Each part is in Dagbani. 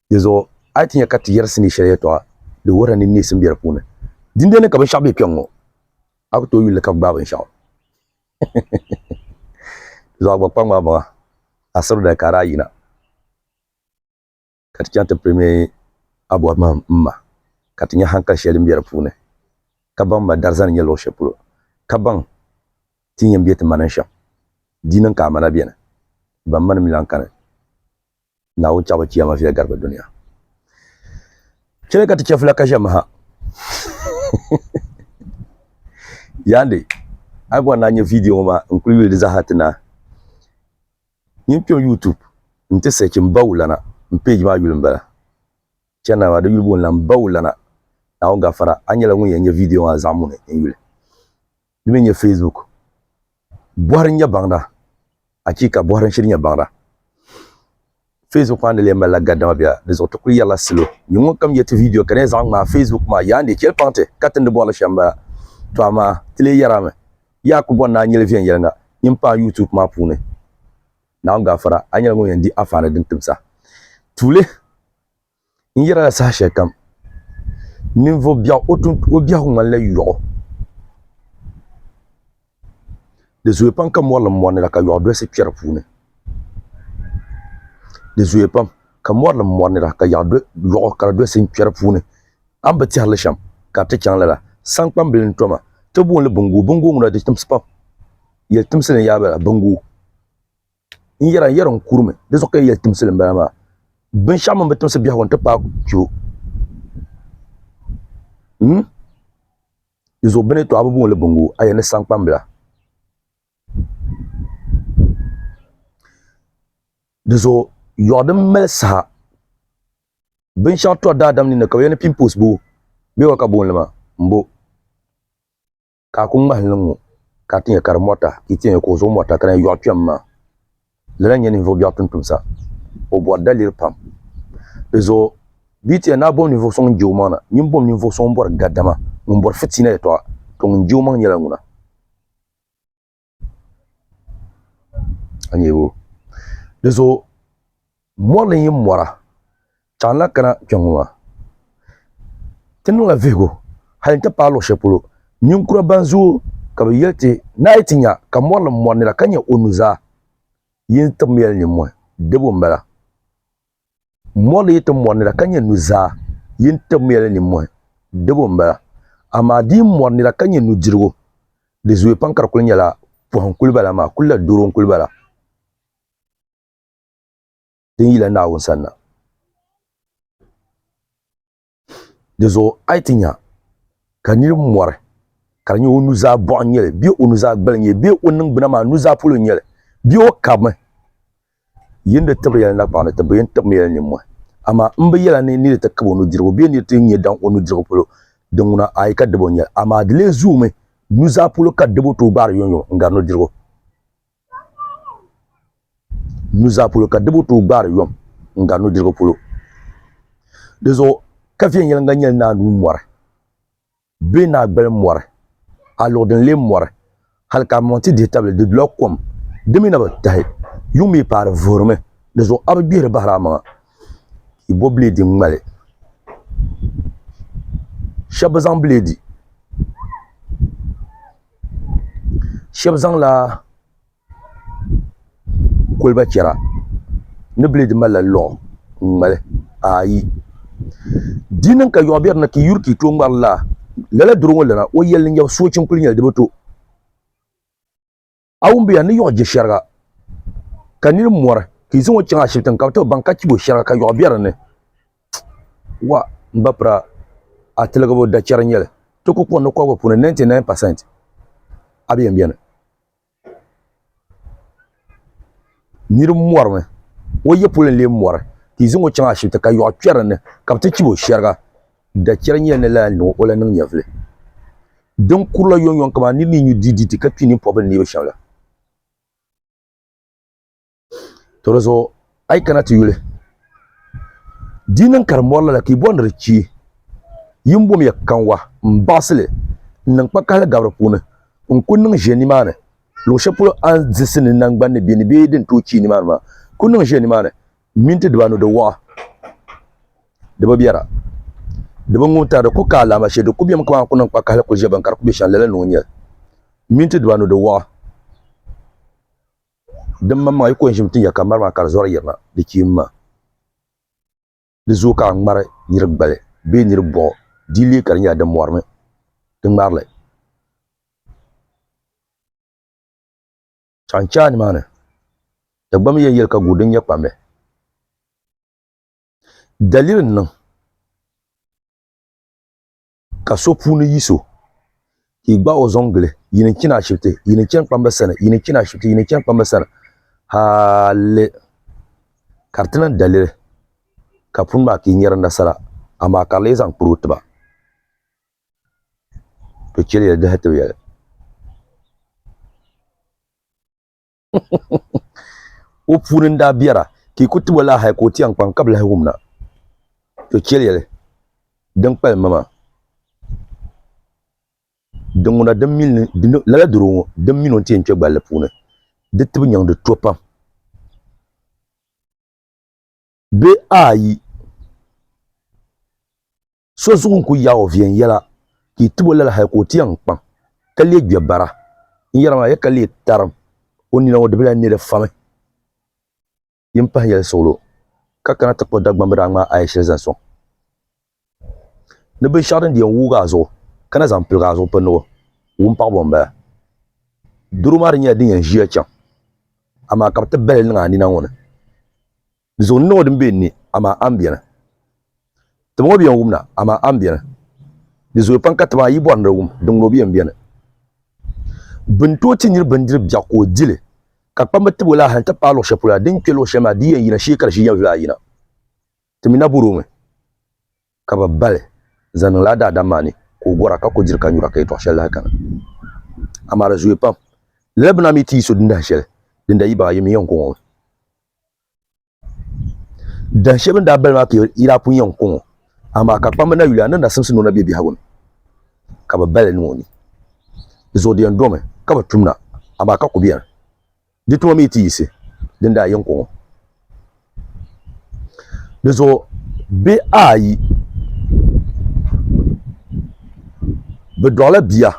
Dinzuɣu a yi ti nya ka ti yɛri sinii shɛli yɛtɔɣa, di wuhirila ni neesim be di puuni. Dindee ni ka binshɛɣu be kpɛŋŋɔ, a ku tooi yuli li ka gbaai binshɛɣu. Dinzuɣu a gba kpa ŋmahimaŋa, a siri dali ka a daa yina ka ti chaŋ ti piri mi a bɔhi mahim m-ma ka ti nya haŋkali shɛli din be di puuni, ka baŋ m-ma darzani nya luɣ shɛli polo, ka baŋ ti ni yɛn be ti manini shɛm. Di niŋ ka amana beni, ban mani mi lan kani. Naawuni chaɣibu kiyama viya garibu dunia. Chɛli ka ti chɛfula ka ʒɛmi ha. Yaandi, a bɔri na nyɛ vidiyo ŋɔ maa n-kuli yuli di zaaha ti naai. Nyin kpiɛm YouTube nti search Mbawulana, m page maa yuli m-bala. Chana maa di yuli booni la Mbawulana, Naawuni gafara, a nyɛla ŋun yɛn nyɛ vidiyo maa zaɣimuni n-yuli. di mi nyɛ Facebook, bɔhiri n-nyɛ baŋda, achiika! Bɔhiri n-shiri nyɛ baŋda. Facebook maa ni lee mali la gadama bia, di zuɣu ti kuli yɛri la salo, nyini ŋun kam yɛti video ka di nyɛ zaɣi ŋmaa, Facebook maa yaa n-di cheli paŋ ti ka ti ni bɔri li shɛm m-bala. Tɔ amaa ti lee yɛri a mi, yaa ku bɔri ni a nyeli viɛnyɛliŋga nyini paai YouTube maa puuni. Naawuni gaafara, a nyɛla ŋun yɛn di afaani din tibisa. Tuuli N yɛrila saha shɛli kam, ninvuɣ biɛɣu o biɛhigu ŋmanila yɔɣu. Di zooya pam ka mɔri lim mɔri ni la ka yɔɣu dolisi kpɛri puuni. Di zooya pam ka mɔri lim mɔri ni la ka yɔɣu kara dolisi kpɛri puuni. A ni bi tɛhiri li shɛm ka di ti chaŋ lala, saŋkpambili n-to ma. Ti booni li biŋguubinguuŋuna di timsi pam. Yɛli timsi ni yaa bala, biŋguu. n yɛra n yɛra n kurimi di zuɣu ka yi yɛli timsili n bala maa binshaɣu mini bi timsi biɛhagu n ti paai kpɛ dinzuɣu bini to a bi booni bongo a yɛli ni sankpambila dinzuɣu yoɣu din mali saha binshaɣu to daadam ninni ka bi yɛli ni pinpoos boo bee wa ka bi boonli maa n bo ka a ku ŋmahi li ŋɔ, ka a ti nya ka di mɔrita, ka yi ti nya ka o zuɣu mɔrita, ka di yɛn yɔɣi kpɛm maa. Lala n-nyɛ ninvuɣ biɛɣu tuntumsa. O bɔri daliri pam. Di zuɣu bɛ yi ti yɛn naai bom ninvuɣ sɔŋ n-je omaŋ na, nyin bom ninvuɣ sɔŋ m-bɔri gadama, ŋun bɔri fitiina yɛtɔɣa, tɔ ŋun je omaŋ nyɛla ŋuna. Di zuɣu mɔri ni yi mɔra chaŋ lahi kana kpɛ ŋɔ maa ti niŋ la vihigu hali n ti paai luɣi shɛli polo ninkura ban zooi ka bi yɛli ti ni a yi ti nya ka mɔri ni mɔri nira ka nya o nuzaa yini tibimya li nini mɔhi dibu n bala. Mɔri yi ti mɔri nira ka nyɛ nuzaa, yi ni tibimiya li nimmɔhi, dibu m-bala. Amaa di yi mɔri nira ka nyɛ nudirigu, di zooya pam ka di kul nyɛla pɔhi n-kuli bala maa, kul la doro n-kuli bala din yila Naawuni sanna. Di zuɣu a yi ti nya ka niri mɔri ka di nyɛ o nuzaa bɔɣu n nyɛli bee o nuzaa gbali nyɛli bee o niŋgbuna maa nuzaa polo n nyɛli bee o kabimi yi ni di tibiri yɛli nakpaɣu ni ti bi yɛn tibimi yɛli nimmɔhi amaa m bi yɛla ni niri ti kab o nudirigu bee niri ti nyɛ daŋ o nudirigu polo din ŋuna a yi ka dib o nyɛli amaa di lee zoomi nuzaa polo ka dib o tooi gbaari yomyom n gari nudirigu nuzaa polo ka dibu tooi gbaari yom n gari nudirigu polo di zuɣu ka viɛnyɛlinga nyɛli naa nuu mɔri bee naa gbali mɔri a luɣu din lee mɔri hali ka amonti ti dihi tabili di dula kom di mii na bi tahi yuŋ mii paai di vuhirimi di zuɣu a bi gbihiri bahiri a maŋa i bo bileedi n ŋmali shɛba bi zaŋ bileedi shɛbi zaŋla koliba chɛra ni bilɛɛ di malila lɔɣu n ŋmali ayi di niŋ ka yɔɣu bɛ dini ka yuri ka yi too ŋmari laa lala doro ŋɔ lana o yɛli ni nyɛbu soochi n kuli nyɛli di bi to a wumbuya ni yɔɣu je shɛriga ka niri mɔri ka yi zaŋɔ chaŋ ashibiti ni ka bi too baŋ ka chibo shɛriga ka yɔɣu bɛ dini Wa, m ba Piraa, a tiligibu da chɛri n-nyɛ li. Ti ku kɔŋ ni kɔbigu puuni 99 percent a bi yɛn beni. Nir mɔrimi, o ya polo n-lee mɔri ka yi zaŋ o chaŋ ashibiti ka yɔɣu kpɛri di ni ka bɛ ti chib o shɛriga. Da chɛri n-nyɛ li ni lala niŋ o la niŋ nyɛvili. Din kurila yɔŋyɔŋ kaman nir ni yi nyu diiditi ka kpi nimpɔbili neebu shɛm la. to di zuɣu a yi kana ti yuli di niŋ ka di mɔri lala ka yi bɔri ni di chee yi ni bom ya kanwa n baɣasi li n niŋ kpa kahali gabiri puuni n ku niŋ ʒiya nimaani luɣu shɛli polo a ni diɣisi ni nangbani ni bɛ ni bee din tooi chii nimaani maa ku niŋ ʒiya nimaani minti dibanu di waɣa di bi biɛra di bi ŋun tari di ku ka alaama shee di ku bɛmi kamani a ku niŋ kpa kahali ku ʒiya bini ka di ku bɛ shɛm lala ni o nyɛli minti dibanu di waɣa Din maŋmaŋa yi ko n-ʒim ti ya ka mari maa ka di zɔri yirina, di kpiim ma. Di zooi ka a ŋmari niri gbali bee niri bɔɣu, di leei ka di nyɛla di mɔrimi ti ŋmari li. A ni chɛ a nimaani Dagbamba yɛn yɛli ka guuri din nyɛ kpambe daliri n-niŋ. Ka so puuni yi so, ka i gbaai o zɔŋ gili, yi ni chini ashibiti, yi ni chani kpamba sani, yi ni chini ashibiti, yi ni chani kpamba sani, hali ka di ti niŋ daliri ka puni maa ka i nyari nasara, amaa ka di lee zaŋ kpiri o tiba, bɛ chɛliya di dahi tibiyali. o puuni n daa biɛra ka i ku tibo laa hal ka o ti yɛn kpaŋ ka bi lahi wumna to chɛli yɛli din kpalim ma maa lala doro ŋɔ din mini o ni ti yɛn kpɛ gballi puuni di tibi nyaŋdi to pam bee a yi So zuɣu n-kuli yaai o viɛnyɛla ka yi tib o lala hal ka o ti yɛn kpaŋ ka lee gbɛ bara. N yɛra maa, ya ka lee tarim o nina ŋɔ di bi lahi ne di fami. Yi ni pahi yɛli suɣilo ka kana ti kpuɣi Dagbamba daa ŋmaai a ya shɛli zaŋ sɔŋ ni binshɛɣu din di yɛn wuugi a zuɣu ka na zaŋ piligi a zuɣu pindigu wumpaɣibo m-bala. Doro maa di nyɛla din yɛn ʒiya chaŋ amaa ka bɛ ti bahi li niŋ a nina ŋɔ ni. Di zuɣu n niŋ o din be n ni, amaa a ni beni. Ti ma ŋɔ bi yɛn wum na, amaa a ni beni. Di zooya pam ka ti ma yi bɔri ni di wum, di ŋuni o bi yɛn beni. Bɛ ni tooi ti nir bindiri biɛɣu ka o di li, ka kpamba tib o laaha nti paai luɣ shɛli polo la, din kpe luɣ shɛli maa di yɛn yina shee ka di ʒi yɛn vili ayina. Ti mi na bɔr o mi. Ka bɛ bali zaŋ niŋla a daadam maa ni ka o gɔra ka ku diri ka nyura ka yɛtɔɣ shɛli lahi kani. Amaa di zooya pam. Lala bina mi ti yi so din dahin shɛli din daa yi baɣi a yɛm yiŋ kuŋɔ ŋɔ. Dahin shɛli bɛ ni daa bali maa ka yi daa pun yiŋ kuŋɔ, amaa ka kpamba na yuli a ni nasimsi ni o na be biɛhigu ni, ka bɛ bali niŋ o ni. Di zuɣu di yɛn domi ka bɛ tumna, amaa ka ku beni. Di tuma mi ti yiɣisi din daa yɛn kɔŋɔ. Di zuɣu bɛ ayi bɛ dɔɣila bia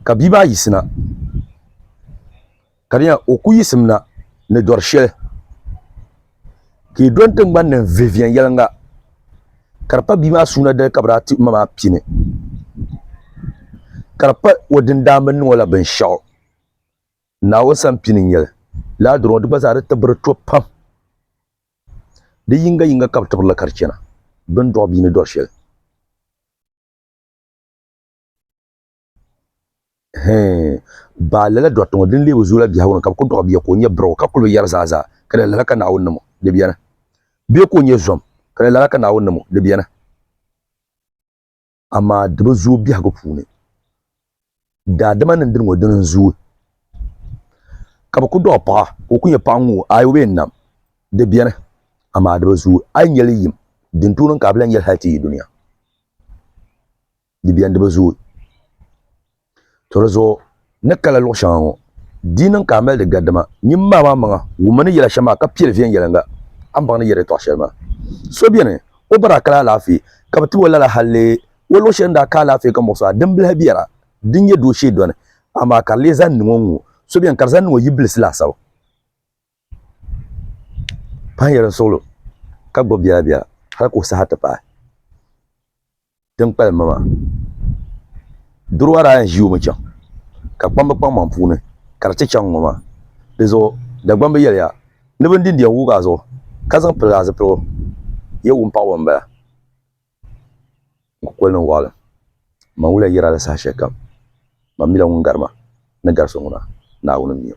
ka bia maa yiɣisina. Ka di nyɛla o ku yisimna ni dɔri shɛli ka yi dɔni tiŋgbani ni n vihi viɛnyɛliŋga ka di pa bia maa suuna dali ka bi daa ti ma maa pini ka di pa o din daa mi niŋɔ la binshɛɣu Naawuni sani pini n-nyɛ li lala dɔri ŋɔ di gba zaa di tibiri to pam di yiŋga yiŋga ka bi tibiri li ka di chana bɛ ni dɔɣi bia ni dɔri shɛli. Baa lala dɔɣite ŋɔ din leei o zuyu la biɛhigu ni ka bɛ kuli dɔɣi bia ka o nyɛ birigu ka kuli bi yɛri zaa zaa ka di yɛn lala ka Naawuni niŋ o di beni. Bee ka o nyɛ zom ka di yɛn lala ka Naawuni niŋ o di beni. Amaa di bi zooi biɛhigu puuni. Daadama ni dini ŋɔ dini n-zooi ka bɛ kuli dɔɣi paɣa ka o kuli nyɛ paɣa ŋ-ŋɔ aai o bi yɛn nam di beni amaa di bi zooi. A yi nya li yim din tooi niŋ ka a bi lahi nya li hali ti yi dunia. di biɛni di bi zooi to di zuɣu ni kala luɣu shɛŋa ŋɔ di niŋ ka a mali di gari dama nyin maa maa maŋa wummi ni yɛla shɛm maa ka piɛli viɛnyɛliŋga a ni baŋ ni yɛri yɛtɔɣ shɛli maa so bɛni o bara kali alaafee ka bi tib o lala hal lee o luɣu shɛli ni daa ka alaafee ka muɣisi a dimbilahi biɛra din nyɛ doo shee dɔni amaa ka di lee zaŋ niŋ o ŋ-ŋɔ so bɛni ka di zaŋ niŋ o yibilisi laasabu Paɣa nyɛla suɣulo ka gbubi bia bia hali ka o saha ti paai din kpalim ma maa doro maa daa yɛn ʒi o mi chaŋ ka kpam bɛ kpaŋmaŋ puuni ka di ti chaŋ ŋɔ maa di zuɣu Dagbaŋ bi yɛliya ni bin din diɛm wugi a zuɣu ka zaŋ pili a zipiligu yɛ wum paɣaba n bala n ku kuli niŋ waɣilim man wuliya yɛri a la saha shɛli kam man mila ŋun gari ma ni gari so ŋuna Naawuni m-mi o.